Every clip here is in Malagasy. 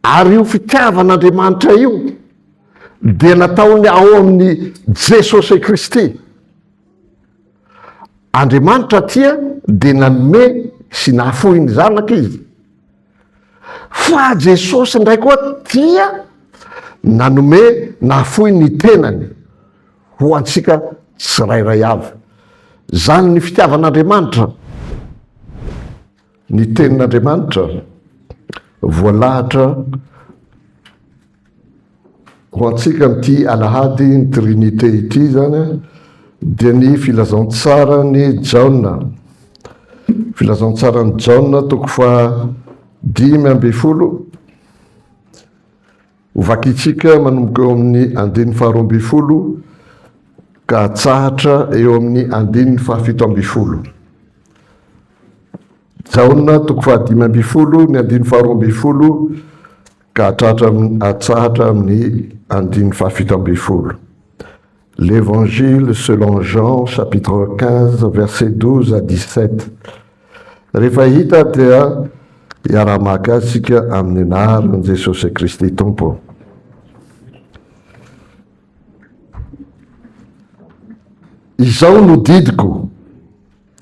Ary io fitiavan'Andriamanitra io dia nataony ao amin'ny Jesosy Kristy. Andriamanitra aty dia nanome sy nahafohy ny zanaka izy. Fa Jesosy indray koa dia nanome nahafohy ny tenany ho antsika tsirairay avy. Zany ny fitiavan'Andriamanitra. Ny Tenin'Andriamanitra voalahatra ho antsika amin'ity alahady ny Trinite ity izany a, dia ny Filazantsaran'i Jaona. Filazantsaran'i Jaona toko faha dimy ambin'ny folo. Ho vakintsika manomboka eo amin'ny andininy faharoa ambin'ny folo ka hatsahatra eo amin'ny andininy fahafito ambin'ny folo. Jaona toko fahadimy ambin'ny folo ny andininy faharoa ambin'ny folo ka hatratra hatsahatra amin'ny andininy fahafito ambin'ny folo. L'Evangile selon Jean chapitre 15 verset 12 à 17 Rehefa hita dia hiara-maka azy isika amin'ny anaran'i Jesosy Kristy Tompo. Izao no didiko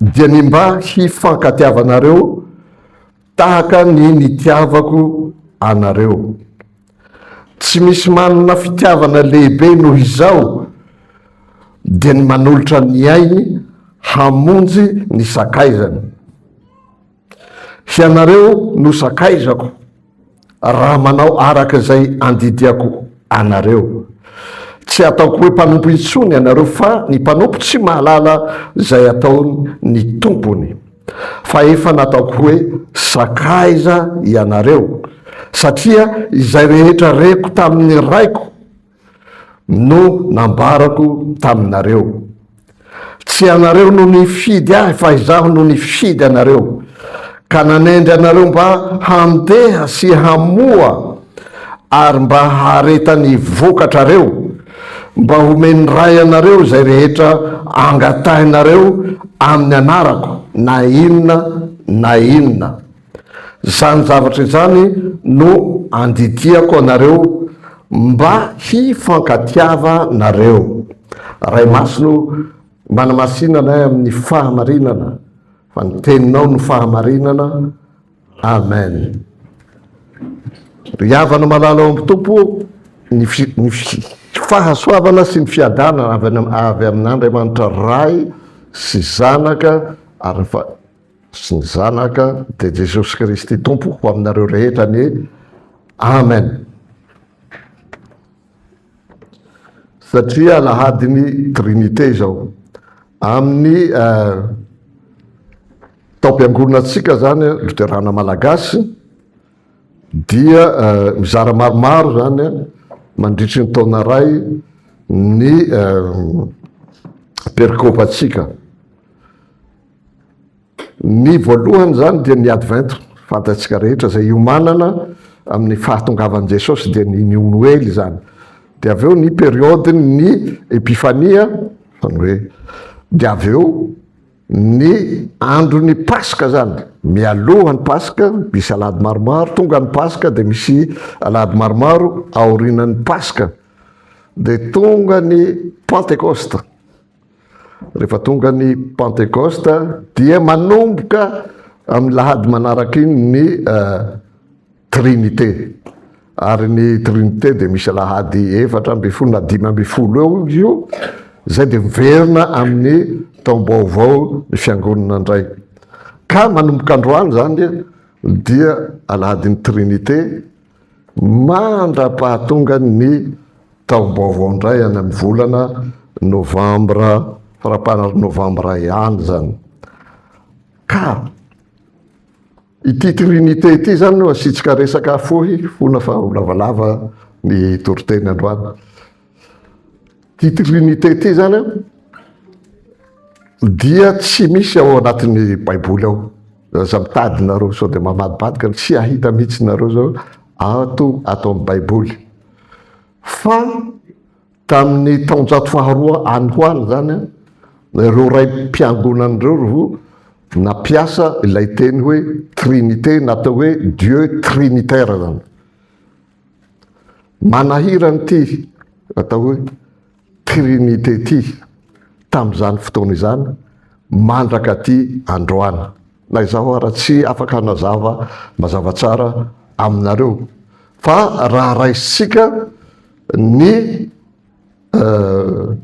dia ny mba hifankatiavanareo tahaka ny nitiavako anareo. Tsy misy manana fitiavana lehibe noho izao dia ny manolotra ny ainy hamonjy ny sakaizany. Hianareo no sakaizako raha manao araka izay andidiako anareo. Tsy ataoko hoe mpanompo intsony ianareo fa ny mpanompo tsy mahalala izay ataony ny tompony. fa efa nataoko hoe sakaiza ianareo, satria izay rehetra reko tamin'ny Raiko no nambarako taminareo. Tsy ianareo no nifidy Ahy, fa Izaho no nifidy anareo, ka nanendry anareo mba handeha sy hamoa ary mba hahareta ny vokatrareo, Mba homen'ny Ray anareo izay rehetra angatahinareo amin'ny anarako, na inona na inona. Izany zavatra izany no andidiako anareo mba hifankatiavanareo. Ray Masina o, manamasina anay amin'ny fahamarinana, fa ny Teninao no fahamarinana, Amen Ry havana malala ao amin'ny Tompo ô, ny fi, ny fi, fahasoavana sy ny fiadanana avy any, avy amin'Andriamanitra Ray sy Zanaka ary ny fa, sy ny Zanaka dia Jesosy Kristy Tompo ho aminareo rehetra anie. Amen. Satria alahadin'ny Trinite izao. Amin'ny taom-piangonantsika izany, Loterana Malagasy, dia mizara maromaro izany mandritry ny taona iray ny perikopantsika. Ny voalohany izany dia ny Advento, fantatsika rehetra, izay iomanana amin'ny fahatongavan'i Jesosy, dia ny New Noely izany. Dia avy eo ny periodin'ny Epifania, izany hoe, dia avy eo ny andron'ny Paska izany, mialoha ny Paska misy alahady maromaro, tonga ny Paska dia misy alahady maromaro aorianan'ny Paska, dia tonga ny Pantekosta. Rehefa tonga ny Pantekosta dia manomboka amin'ny lahady manaraka iny ny uh, Trinité. Ary ny Trinité dia misy lahady efatra ambin'ny folo na dimy ambin'ny folo eo io, izay dia miverina amin'ny taom-baovao ny fiangonana indray. Ka manomboka androany izany dia alahadin'ny Trinité mandra-pahatongan' ny taom-baovao indray any amin'ny volana novambra, faramparan'ny novambra ihany izany. Ka ity Trinite ity izany no asiantsika resaka fohy, fona fa ho lavalava ny toriteny androany. Titre unité ity zany a dia tsy misy ao anatin'ny baiboly ao aza mitady nareo sao dia mamadibadika ny tsy ahita mihitsy nareo zao ato ato amin'ny baiboly fa tamin'ny taonjato faharoa any ho any zany a ireo ray mpiangonana ireo ro nampiasa ilay teny hoe trinité natao hoe dieu trinitaire zany Manahira an'ity atao hoe Trinite ity tamin'izany fotoana izany mandraka aty androany. Na izaho ara tsy afaka hanazava mazava tsara aminareo fa raha raisitsika ny euh,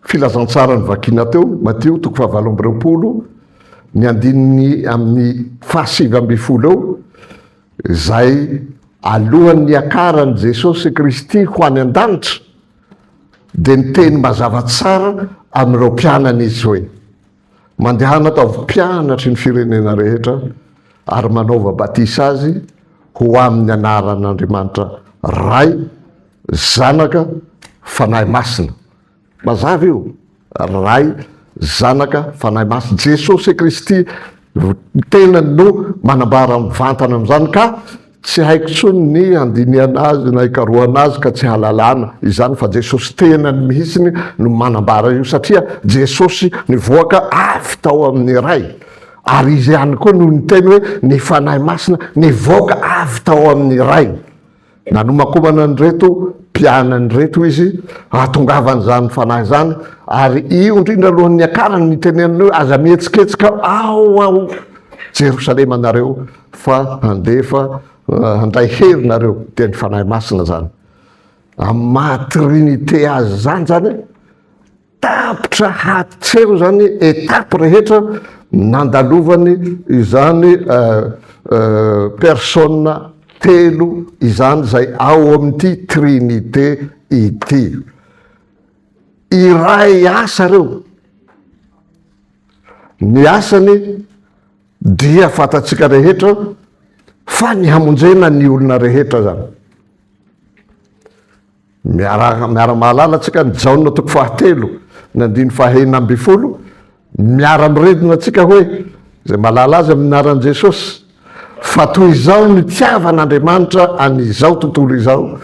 Filazantsara novakina teo, Matio toko fahavalo amby roapolo, ny andininy amin'ny fahasivy ambin'ny folo eo, izay alohan'ny niakaran'i Jesosy Kristy ho any an-danitra, dia niteny mazava tsara amin'ireo mpianany Izy hoe. Mandehana ataovy mpianatry ny firenena rehetra ary manaova batisa azy ho amin'ny anaran'Andriamanitra Ray, Zanaka, Fanahy Masina. Mazava io. Ray, Zanaka, Fanahy Masina. Jesosy Kristy tena no manambara mivantana amin'izany ka Tsy haiko tsony ny handinihana azy na hikarohana azy ka tsy halalana izany fa Jesosy tenany mihitsiny no manambara io satria Jesosy nivoaka avy tao amin'ny Ray ary Izy ihany koa no niteny hoe ny Fanahy Masina nivoaka avy tao amin'ny Ray. Nanomakomana an'ireto mpianany ireto Izy hahatongavany izany Fanahy izany ary io indrindra aloha niakarany nitenenany hoe aza mihetsiketsika ao ao Jerosalema nareo fa handefa handay hery nareo dia ny fanahy masina zany amin'ny maha trinite azy zany zany a tapitra hatreho zany etape rehetra nandalovany izany persona telo izany zay ao amin'ity trinite ity iray asa reo ny asany Dia fantatsika rehetra fa ny hamonjena ny olona rehetra zany. Miara-mahalala antsika ny Jaona toko fahatelo ny andiny fahenina ambin'ny folo, miara-miredona antsika hoe izay mahalala azy amin'ny anaran'i Jesosy fa toy izao nitiavan'Andriamanitra an'izao tontolo izao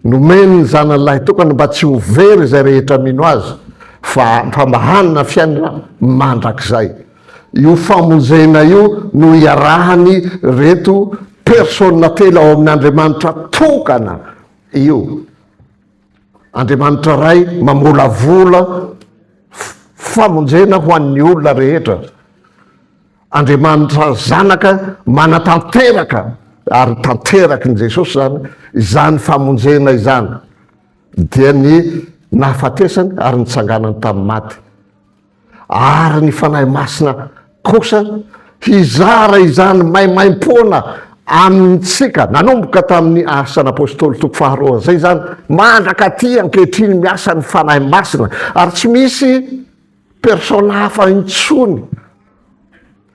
nomeny ny zanany lahitokana mba tsy ho very izay rehetra mino azy fa fa mahanana fiainana mandrakizay. Io famonjena io no hiarahany reto persona telo ao amin' Andriamanitra tokana io. Andriamanitra Ray mamolavola famonjena ho an'ny olona rehetra. Andriamanitra Zanaka manatanteraka ary tanteraky ny Jesosy zany izany famonjena izany dia ny nahafatesany ary nitsanganany tamin'ny maty. Ary ny Fanahy Masina kosa hizara izany maimaimpoana amintsika, nanomboka tamin'ny Asan'ny Apôstôly toko faharoa izay izany, mandraka aty ankehitriny miasa ny Fanahy Masina, ary tsy misy persona hafa intsony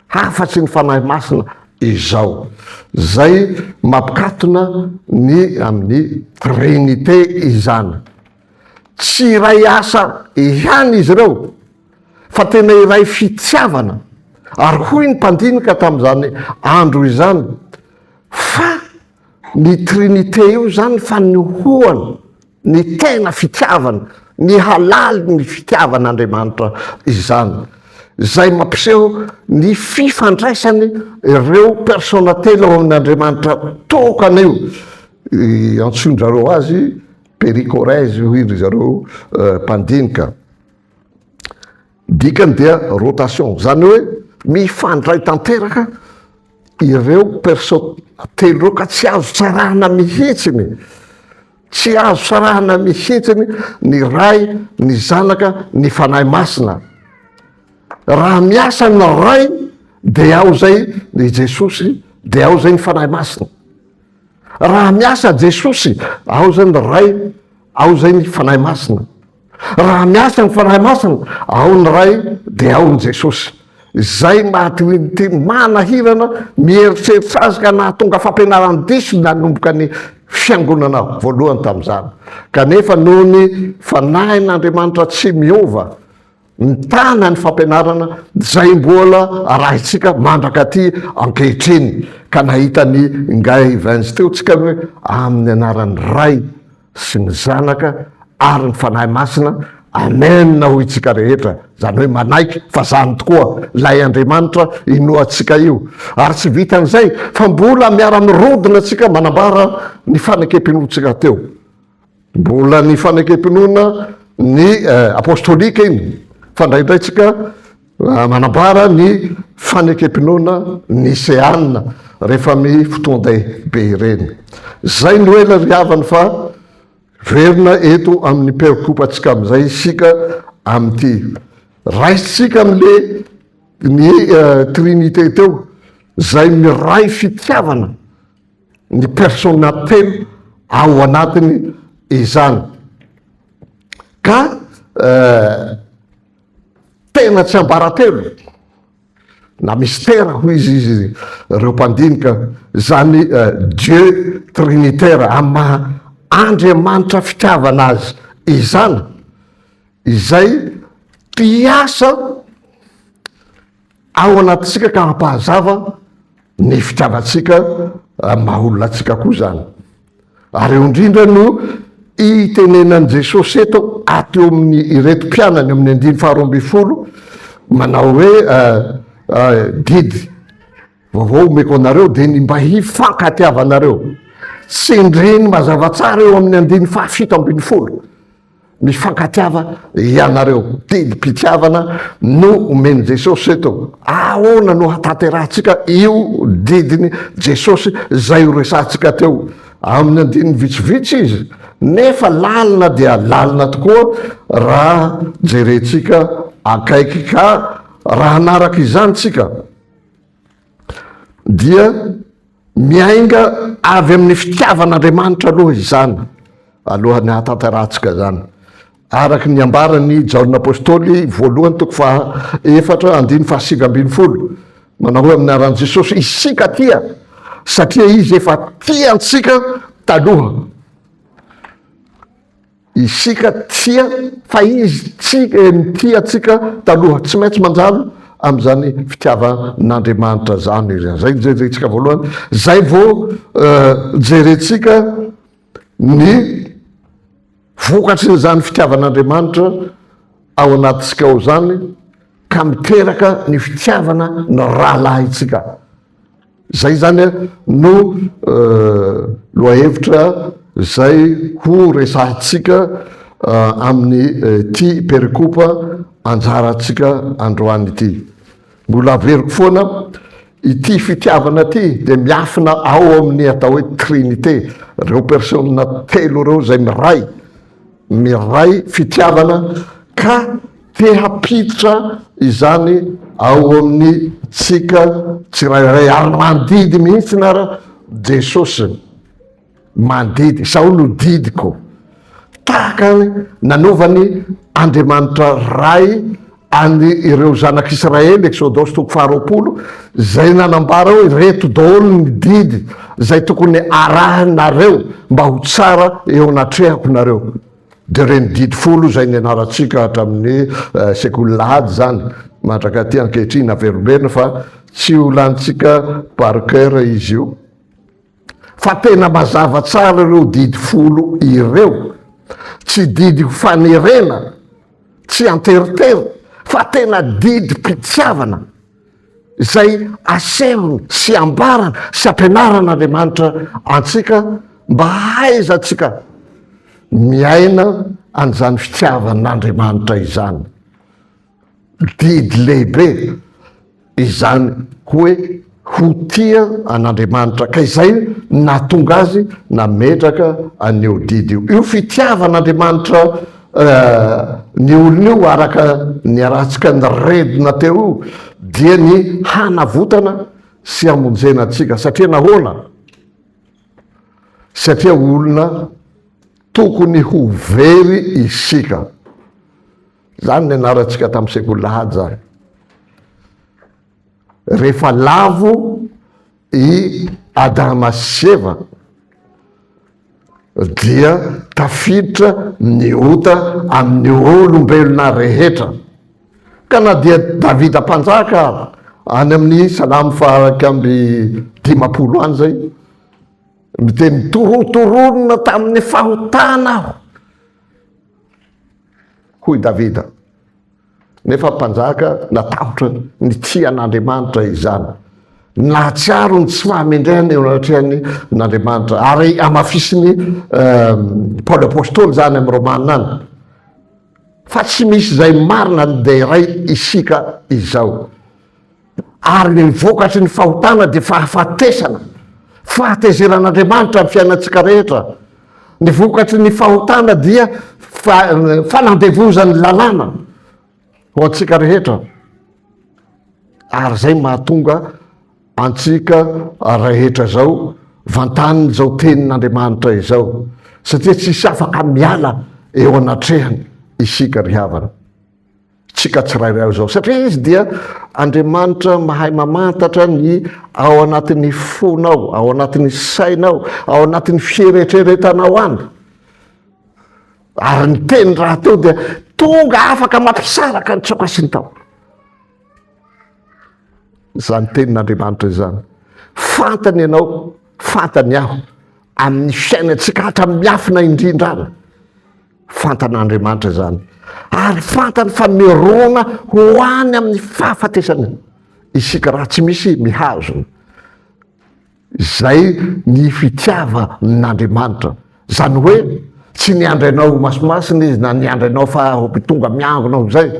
hafa-tsy ny Fanahy Masina izao. Izay mampikatona ny amin'ny Trinite izany. Tsy iray asa ihany izy ireo fa tena iray fitiavana ary hoy ny mpandinika tamin'izany andro izany fa ny Trinite io izany fanehoana ny tena fitiavana, ny halaly ny fitiavan'Andriamanitra izany izay mampiseho ny fifandraisany ireo persona telo ao amin'Andriamanitra tokana io, antsoin-dry zareo azy Pericorèse hoy ry zareo mpandinika. Dikany dia rotation, izany hoe mifandray tanteraka ireo perso telo ireo ka tsy azo tsarahana mihitsiny, tsy azo tsarahana mihitsiny ny Ray, ny Zanaka, ny Fanahy Masina. Raha miasa ny Ray dia ao izay i Jesosy, dia ao izay ny Fanahy Masina. Raha miasa Jesosy, ao izay ny Ray, ao izay ny Fanahy Masina. Raha miasa ny Fanahy Masina, ao ny Ray, dia ao ny Jesosy. Izay maty hoy ny teny, manahirana, mieritreritra azy ka nahatonga fampianarany diso nanomboka ny fiangonana voalohany tamin'izany. Kanefa noho ny Fanahin'Andriamanitra tsy miova, Mitana ny fampianarana izay mbola arahintsika mandrakaty ankehitriny, ka nahita ny Ingahy Evans teo tsika hoe amin'ny anaran'ny Ray sy ny Zanaka ary ny Fanahy Masina, Amen hoy tsika rehetra, izany hoe manaiky fa izany tokoa ilay Andriamanitra inoantsika io. Ary tsy vitan'izay fa mbola miara-mirodona tsika manambara ny fanekempinoantsika teo. Mbola ny fanekempinoana ny apostolika iny fa indraindray tsika manambara ny fanekempinoana niseana rehefa mi fotoan-dehibe ireny. Zay no ela ry havany fa verina eto amin'ny peokopatsika amin'izay isika amin'ity. Raisintsika amin'le ny trinite teo zay miray fitiavana. ny persona telo ao anatiny izany ka tena tsy ambaratelo na mistera hoy izy izy ireo mpandinika zany dieu trinitaire am maha andriamanitra fitiavana azy izany izay mpiasa ao anatintsika ka hampahazava ny fitrandratsika maha olona antsika koa izany. Ary eo indrindra no itenenan'i Jesosy eto ato eo amin'ny ireto mpianany amin'ny andiny faharoa ambin'ny folo manao hoe didy vaovao omeko anareo dia ny mba hifankatiavanareo. Tsindriny mazava tsara eo amin'ny andiny fahafito ambin'ny folo. Mifankatiava ianareo. Didim-pitiavana no omen'i Jesosy eto. Ahoana no hahatanterahantsika io didin'i Jesosy izay horesahantsika teo? Amin'ny andininy vitsivitsy izy, nefa lalina dia lalina tokoa raha jerentsika akaiky. Ka raha hanaraka izany isika, dia. Miainga avy amin'ny fitiavan'Andriamanitra aloha izany, alohan'ny hahatanterahantsika izany. Araka ny ambaran'i Jaona Apostoly, voalohany toko faha efatra, andininy faha sivy ambin'ny folo, manao hoe amin'ny anaran'i Jesosy, isika tia, satria Izy efa tia antsika taloha. Isika tia fa Izy tia, nitia antsika taloha. Tsy maintsy manjary amin'izany fitiavan'Andriamanitra izany Izy. Izay no jerentsika voalohany. Izay vao jerentsika ny vokatrin'izany fitiavan'Andriamanitra ao anatintsika ao izany, ka miteraka ny fitiavana ny rahalahintsika. Izay izany no lohahevitra izay ho resahantsika amin'ity perekopa anjarantsika androany ity. Mbola averiko foana, ity fitiavana ity dia miafina ao amin'ny atao hoe Trinite, ireo persona telo ireo izay miray miray fitiavana ka te hampiditra izany ao amin'ny tsika tsirairay ary mandidy mihitsy na ra Jesosy mandidy sao no didiko tahaka ny nanovany Andriamanitra Ray An' ireo Zanak' Israely, Eksôdôsy toko faharoapolo, izay nanambara hoe, Ireto daholo ny didy izay tokony harahinareo mba ho tsara eo anatrehako nareo. Dia ireny didy folo izay nianarantsika hatramin' ny sekoly lahady izany, mandrak'aty ankehitriny, averomberina fa tsy ho lanintsika par cœur izy io. Fa tena mazava tsara ireo didy folo ireo. Tsy didy ho fanerena, tsy an-teritery, fa tena didim-pitiavana izay asehony sy ambarany sy ampianaran'Andriamanitra antsika mba hahaizantsika miaina an'izany fitiavan'Andriamanitra izany. Didy lehibe izany hoe ho tia an'Andriamanitra, ka izay no nahatonga azy nametraka an'io didy io. Io fitiavan'Andriamanitra ny olony io, araka ny iarahantsika niredona teo io, dia ny hanavotana sy hamonjena antsika. Satria nahoana? Satria olona tokony ho very isika. Izany nianarantsika tamin'ny sekoly lahady izany. Rehefa lavo i Adama sy Eva dia tafiditra ny ota amin'ny olombelona rehetra. Ka na dia Davida mpanjaka any amin'ny salamo fahairaika amby dimampolo any izay miteny torotoronina tamin'ny fahotana aho hoy Davida. Nefa mpanjaka natahotra ny tsy an'Andriamanitra izany. Nahatsiaro ny tsy fahamendrehana eo anatrehan'ny n'Andriamanitra. Ary amafisin'ny eh, Paoly Apôstôly izany amin'ny Romana any. Fa tsy misy izay marina ny dia iray isika izao. Ary ny vokatry ny fahotana dia fahafatesana. Fahatezeran'Andriamanitra ny fiainantsika rehetra. Ny vokatry ny fahotana dia fanandevozan'ny lalàna ho antsika rehetra. Ary izay mahatonga antsika rehetra izao vantaniny izao tenin'Andriamanitra izao, satria tsisy afaka miala eo anatrehany isika ry havana. Tsika tsirairay ao izao, satria izy dia Andriamanitra mahay mamantatra ny ao anatin'ny fonao, ao anatin'ny sainao, ao anatin'ny fieretreretanao any. Ary ny teny rahateo dia tonga afaka mampisaraka ny tsaoka sy ny tao. Izany tenin'Andriamanitra izany. Fantany ianao, fantany aho, amin'ny fiainantsika hatramin'ny miafina indrindrana. Fantan'Andriamanitra izany, ary fantany fa mirona ho any amin'ny fahafatesana isika raha tsy misy mihazona. Izay ny fitiavan'Andriamanitra. Izany hoe tsy niandry anao ho masimasina izy na niandry anao fa ho tonga miangona ho izay,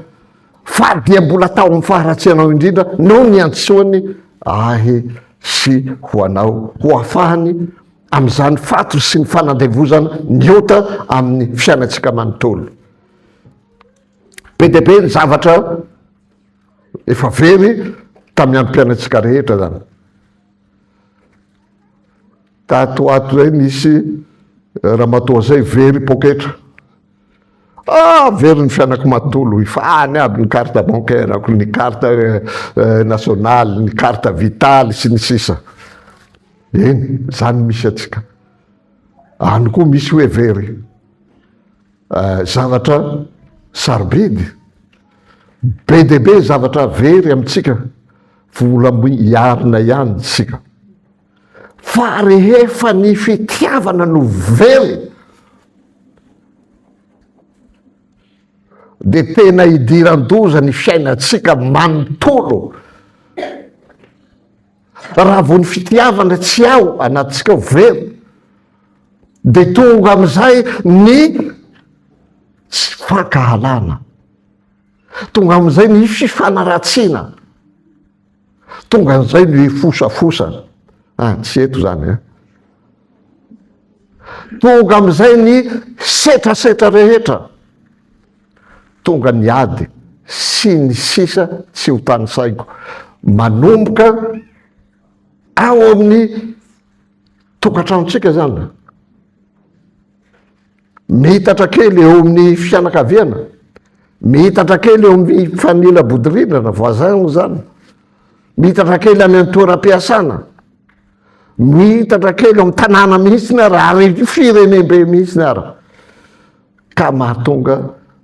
fa dia mbola tao amin'ny faharatsianao indrindra no niantsoany ahy sy ho anao, ho ahafahany amin'izany faty sy ny fanandevozana ny ota amin'ny fiainantsika manontolo. Be dia be ny zavatra efa very tamin'ny androm-piainantsika rehetra zany. Tato ato zay nisy ramatoa zay very poketra Ah, very ny fianako matolo, efa any aby ny carte bancaire-ako, ny carte eh, nationale, ny carte vitale sy ny sisa. Eny, zany misy atsika. Any koa misy hoe very. Eh, zavatra sarobidy be dia be zavatra very amintsika vola hiarina ihany tsika fa rehefa ny fitiavana no very dia tena idiran-doza ny fiainantsika manontolo raha vao ny fitiavana tsy ao anatintsika ao very dia tonga amin'izay ny tsy fankahalana tonga amin'izay ny fifanaratsiana Tonga an'izay no hifosafosana. Ah, tsy eto izany an. Tonga amin'izay ny setrasetra rehetra. Tonga ny ady sy ny sisa tsy ho tanisaiko. Manomboka ao amin'ny tokantranontsika izany. Mihitatra kely eo amin'ny fianakaviana, mihitatra kely eo amin'ny fanila bodirindrana, voisin izany, mihitatra kely any amin'ny toeram-piasana, mihitatra kely eo amin'ny tanàna mihitsy ny ara, ary firenembe mihitsy ny ara. Ka mahatonga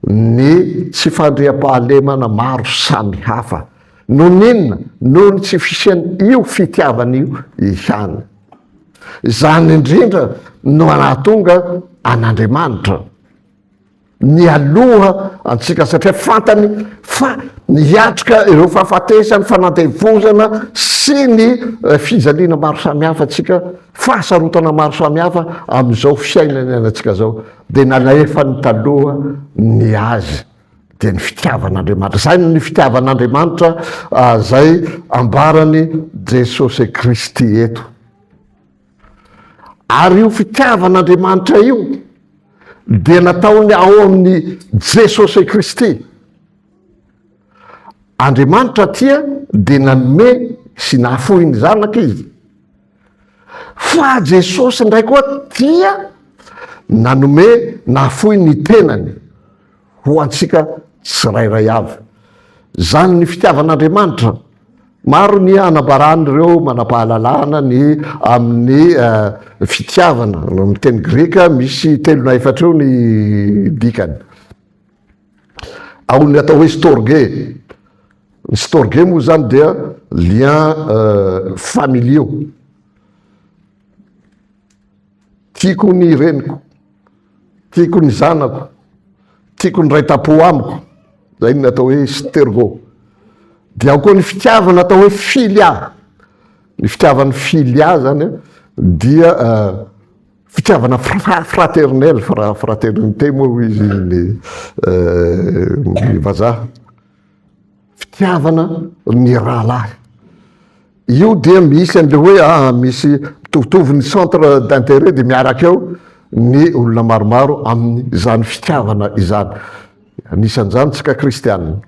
ny tsy fandriampahalemana maro samy hafa. Noho ny inona? Noho ny tsy fisian'io fitiavana io ihany. Izany indrindra no anahatonga an'Andriamanitra mialoha antsika satria fantany fa miatrika ireo fahafatesany, fanandevozana sy ny eh, fijaliana maro samihafa antsika, fahasarotana maro samihafa amin'izao fiainana iainantsika izao, dia nalefany taloha ny azy. dia ny fitiavan'Andriamanitra. Izay ny fitiavan'Andriamanitra ah, izay ambarany Jesosy Kristy eto. Ary io fitiavan'Andriamanitra io dia nataony ao amin'ny Jesosy Kristy. Andriamanitra tia dia nanome sy nahafohy ny zanaka izy. Fa Jesosy indray koa dia nanome, nahafoy ny tenany ho antsika tsirairay avy. Izany ny fitiavan'Andriamanitra. Maro ny anabaran'ireo manam-pahalalana ny amin'ny fitiavana. Amin'ny teny grika misy telo na efatra eo ny dikany. ao ny atao hoe storge ny storge moa zany dia lien familiaux tiako ny reniko tiako ny zanako tiako ny ray tapo amiko zay ny atao hoe stergo dia ao koa ny fitiavana atao hoe filia ny fitiavan'ny filia zany dia Fitiavana fraternel, fraternité moa hoy izy ny vazaha. Fitiavana ny rahalahy. Io dia misy an'ilay hoe ah, misy mitovitovy ny centre d'intérêt dia miaraka eo ny olona maromaro amin'izany fitiavana izany. Anisan'izany isika kristianina.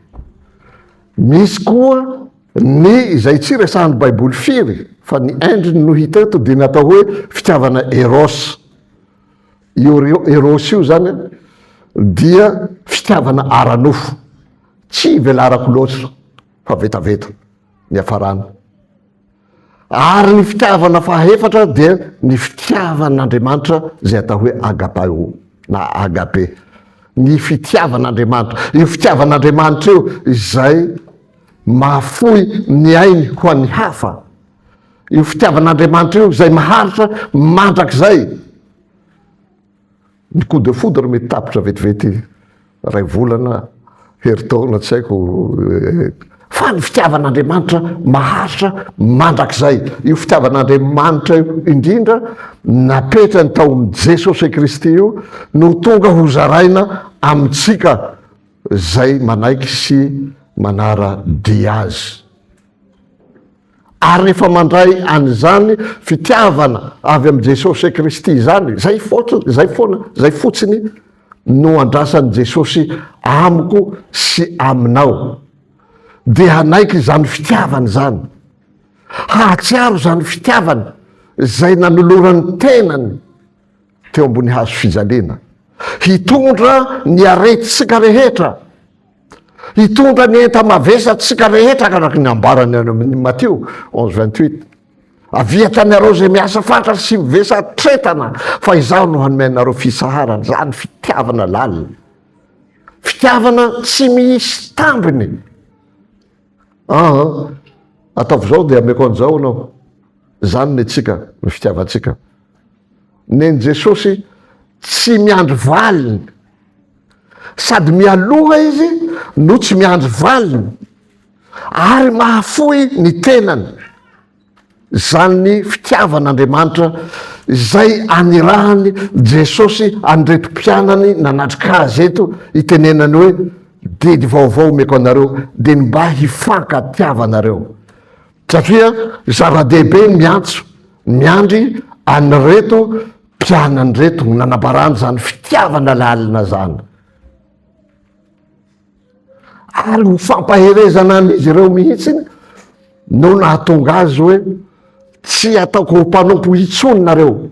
Misy koa Ny izay tsy resahan'ny baiboly firy fa ny endriny no hita eto dia ny atao hoe fitiavana eros. Io eros io zany dia fitiavana ara-nofo. Tsy velarako loatra fa vetaveta ny hafarana. Ary ny fitiavana fahefatra dia ny fitiavan'Andriamanitra izay atao hoe agapao na agape. Ny fitiavan'Andriamanitra, io fitiavan'Andriamanitra io izay Mahafoy ny ainy ho an'ny hafa io fitiavan'Andriamanitra io izay maharitra mandrakizay. Ny coup de foudre mety tapitra vetivety iray volana, herintaona tsy haiko fa ny fitiavan'Andriamanitra maharitra mandrakizay. Io fitiavan'Andriamanitra io indrindra napetrany tao amin'i Jesosy Kristy io no tonga hozaraina amintsika izay manaiky sy manara-dia azy. Ary rehefa mandray an'izany fitiavana avy amin'i Jesosy Kristy izany, izay fotsiny, izay foana, izay fotsiny no andrasan'i Jesosy amiko sy aminao, dia hanaiky izany fitiavana izany, hahatsiaro izany fitiavana izay nanolorany tenany, teo ambony hazo fijaliana, hitondra ny aretintsika rehetra, hitondra ny enta-mavesatsika rehetra araky ny ambarany any amin'ny Matio onze vingt huit. Avia tanareo izay miasa fatra sy mivesa tretana fa izaho no hanome anareo fisaharana, zany fitiavana lalina, fitiavana tsy misy tambiny. Aa, ataovy izao dia ameko an'izao anao, zany ny tsika, ny fitiavantsika. Nen'i Jesosy tsy miandry valiny. Sady mialoha izy no tsy miandry valiny ary mahafoy ny tenany. Izany ny fitiavan'Andriamanitra izay anirahan'i Jesosy an'ireto mpianany nanatrika azy eto itenenany hoe, Didy vaovao omeko anareo, dia ny mba hifankatiavanareo. Satria zava-dehibe ny miantso, miandry an'ireto mpianany ireto ho nanabarany izany fitiavana lalina izany. Ary ho fampaherezana an'izy ireo mihitsy no nahatonga azy hoe tsy ataoko ho mpanompo intsony nareo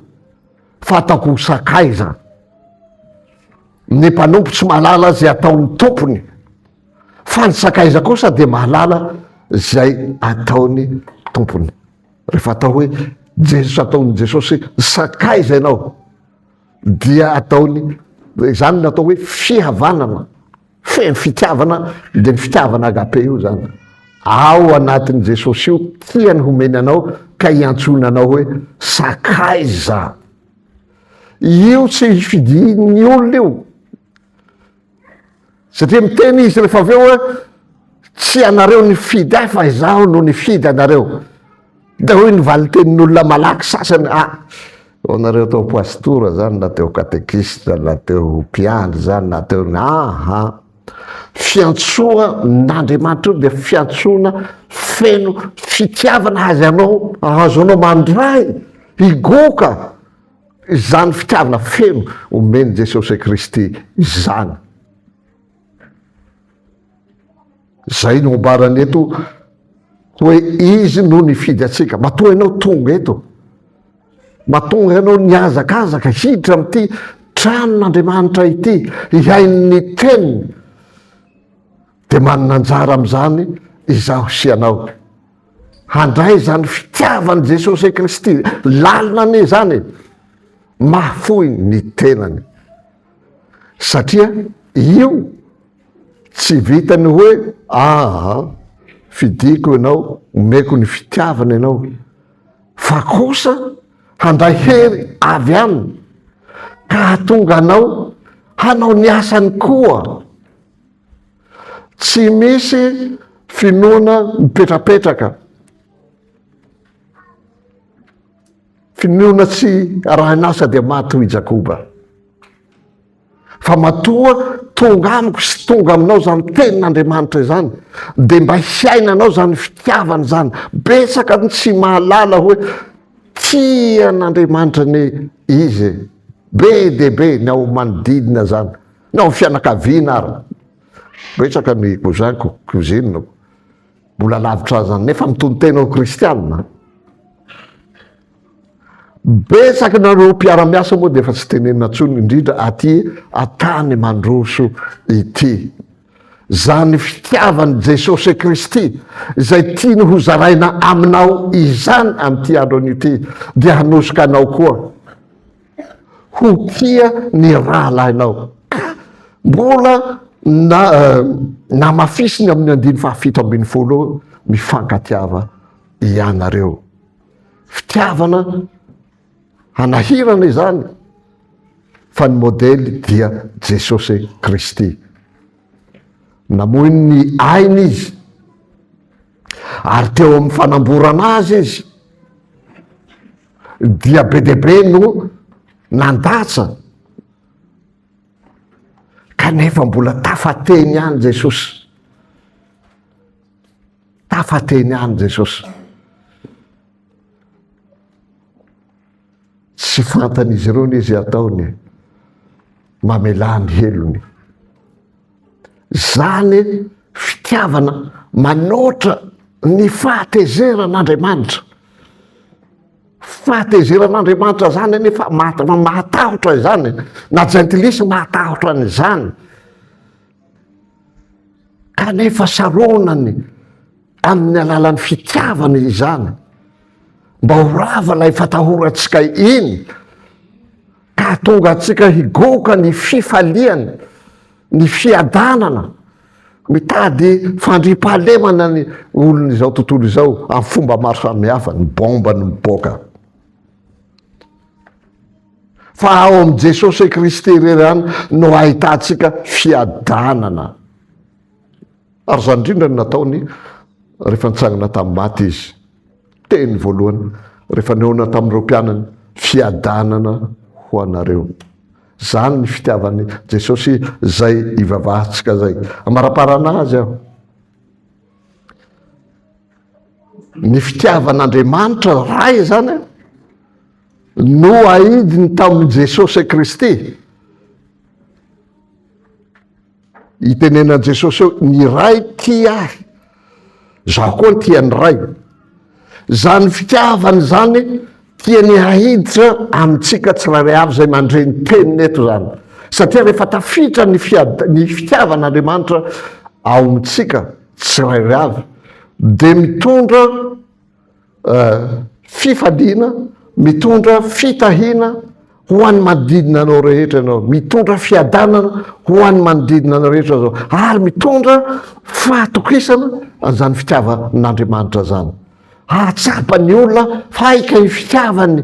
fa ataoko ho sakaiza. Ny mpanompo tsy malala izay ataon'ny tompony. fa ny sakaiza kosa dia mahalala zay ataony tompony rehefa atao hoe jesosy ataony jesosy sakaiza ianao dia ataony zany natao hoe fihavanana feno fitiavana de ny fitiavana agape io zany ao anatin'ny jesosy io tiany homeny anao ka hiantsoina anao hoe sakaiza io tsy fidiny olona io Satria miteny izy rehefa avy eo hoe tsy ianareo nifidy ahy fa izaho no nifidy anareo. Dia hoy ny valintenin'olona malaky sasany, ah, ho anareo teo pastora izany na teo katekista na teo mpiandry izany na teo ny aha. Fiantsoan'Andriamanitra io dia fiantsoana feno fitiavana azy anao, ahazo anao mandray, higoka Izany fitiavana feno omen'i Jesosy Kristy izany. Izay no ambarany eto hoe Izy no nifidy antsika. Matoa ianao tonga eto, matoa ianao nihazakazaka hiditra amin'ity tranon'Andriamanitra ity, hihaino ny teniny, dia manana anjara amin'izany izaho sy ianao. Handray izany fitiavan'i Jesosy Kristy lalina anie izany e! Mahafoy ny tenany. Satria io tsy vitan'ny hoe aa fidiko ianao, omeko ny fitiavana ianao, fa kosa handray hery avy aminy ka hahatonga anao hanao ny asany koa Tsy misy finoana mipetrapetraka, finoana tsy arahin'asa dia maty hoy i Jakoba. Fa matoa tonga amiko sy tonga aminao izany tenin'Andriamanitra izany, dia mba hiainanao izany fitiavana izany. Betsaka ny tsy mahalala hoe tia an'Andriamanitra anie izy e. Be dia be ny ao manodidina izany. Tao amin'ny fianakaviana ary betsaka ny cousin-ko, cousine-ko, mbola lavitra azy any, nefa mitonon-tena ho kristianina. Betsaka nareo mpiara-miasa moa dia efa tsy tenenina intsony, indrindra aty an-tany mandroso ity. Izany fitiavan'i Jesosy Kristy izay tiany ho zaraina aminao izany amin'ity andro anio ity dia hanosoka anao koa. ho tia ny rahalahinao. Ka mbola na namafisiny amin'ny andiny fahafito ambin'ny folo eo, mifankatiava ianareo. Fitiavana hanahirana izany fa ny modely dia Jesosy Kristy. Namoy ny ainy izy ary teo amin'ny fanamborana azy izy. dia be dia be no nandatsa kanefa mbola tafateny ihany jesosy tafateny any jesosy tsy fantan'izy ireo ny izy ataony mamelà ny helony. Izany fitiavana manoatra ny fahatezeran'Andriamanitra. Fahatezeran'Andriamanitra izany anefa mahatahotra izany, na jentilisa mahatahotra an'izany, kanefa saronany amin'ny alalan'ny fitiavana izany mba ho rava ilay fatahorantsika iny Ka hatonga antsika higoka ny fifalian ny fiadanana mitady fandriampahalemana ny olon izao tontolo izao amin'ny fomba maro samihafa, ny bomba no mipoaka. Fa ao amin'i Jesosy Kristy irery ihany no ahitantsika fiadanana. Ary izany indrindra no nataony rehefa nitsangana tamin'ny maty izy. teny voalohany rehefa nihaona tamin'ireo mpianany, Fiadanana ho anareo. Izany ny fitiavan'i Jesosy izay ivavahantsika izay. Amaraparana Azy aho. Ny fitiavan'Andriamanitra Ray izany no ahidiny tamin'i Jesosy Kristy. Itenenan'i Jesosy eo, ny Ray tia ahy, zaho koa tia ny Ray. Izany fitiavana izany tiany ahiditra amintsika tsirairay avy izay mandre ny teniny eto izany. Satria rehefa tafiditra ny fiad- ny fitiavan'Andriamanitra ao amintsika tsirairay avy dia mitondra fifaliana, mitondra fitahiana ho an'ny manodidina anao rehetra ianao, mitondra fiadanana ho an'ny manodidina anao rehetra zao, ary mitondra fahatokisana an'izany fitiavan'Andriamanitra zany. Hahatsapa ny olona fa hay kay ny fitiavan'i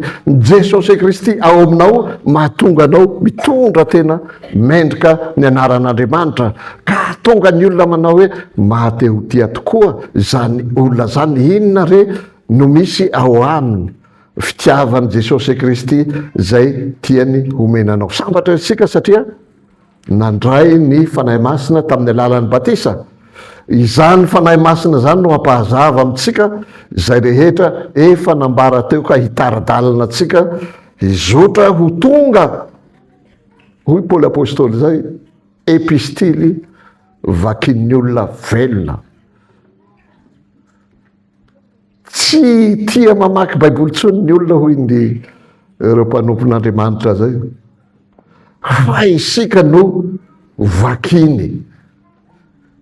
Jesosy Kristy ao aminao mahatonga anao mitondra tena Mendrika ny anaran'Andriamanitra ka hahatonga ny olona manao hoe mahatehotia tokoa izany olona izany. Inona re no misy ao aminy? Fitiavan'i Jesosy Kristy izay tiany homena anao. Sambatra isika satria nandray ny Fanahy Masina tamin'ny alalan'ny batisa. Izany Fanahy Masina izany no hampahazava amintsika izay rehetra efa nambara teo ka hitara-dalana antsika hizotra ho tonga Hoy Paoly Apostoly izay, epistily vakin'ny olona velona. Tsy tia mamaky Baiboly intsony ny olona hoy ny ireo mpanompon'Andriamanitra izay. Fa isika no vakiny.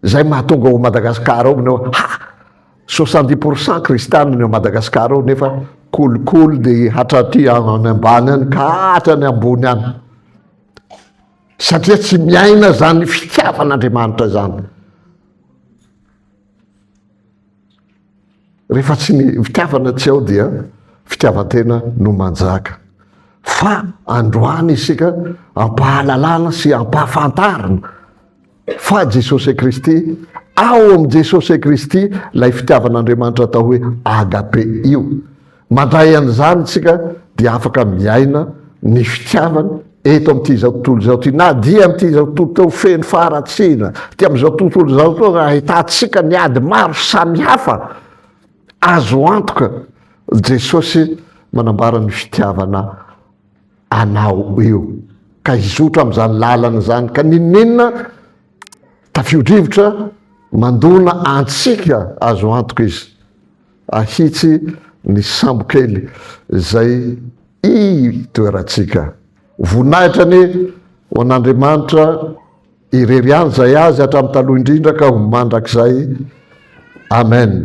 Izay mahatonga ao Madagasikara ao minao, ha! Soixante-dix pour cent kristiana ny ao Madagascar ao nefa kolikoly ny hatraty any ambany any ka hatrany ambony any satria tsy miaina zany fitiavan'Andriamanitra zany rehefa tsy ny fitiavana tsy ao dia fitiavantena no manjaka fa androany isika ampahalalana sy ampahafantarina Fa Jesosy Kristy, ao amin'i Jesosy Kristy ilay fitiavan'Andriamanitra atao hoe agape io. Mandray an'izany isika dia afaka miaina ny fitiavany eto amin'ity izao tontolo izao ity, na dia amin'ity izao tontolo teo feno faharatsiana, ity amin'izao tontolo izao teo ahitantsika ny ady maro samihafa, azo antoka Jesosy manambara ny fitiavana anao eo ka hizotra amin'izany lalana izany ka n'inon'inona tafio-drivotra mandona antsika azo antoka izy ahitsy ny sambokely izay itoerantsika voninahitra anie ho an'Andriamanitra irery ihany izay azy hatramin'ny taloha indrindra ka ho mandrakizay amen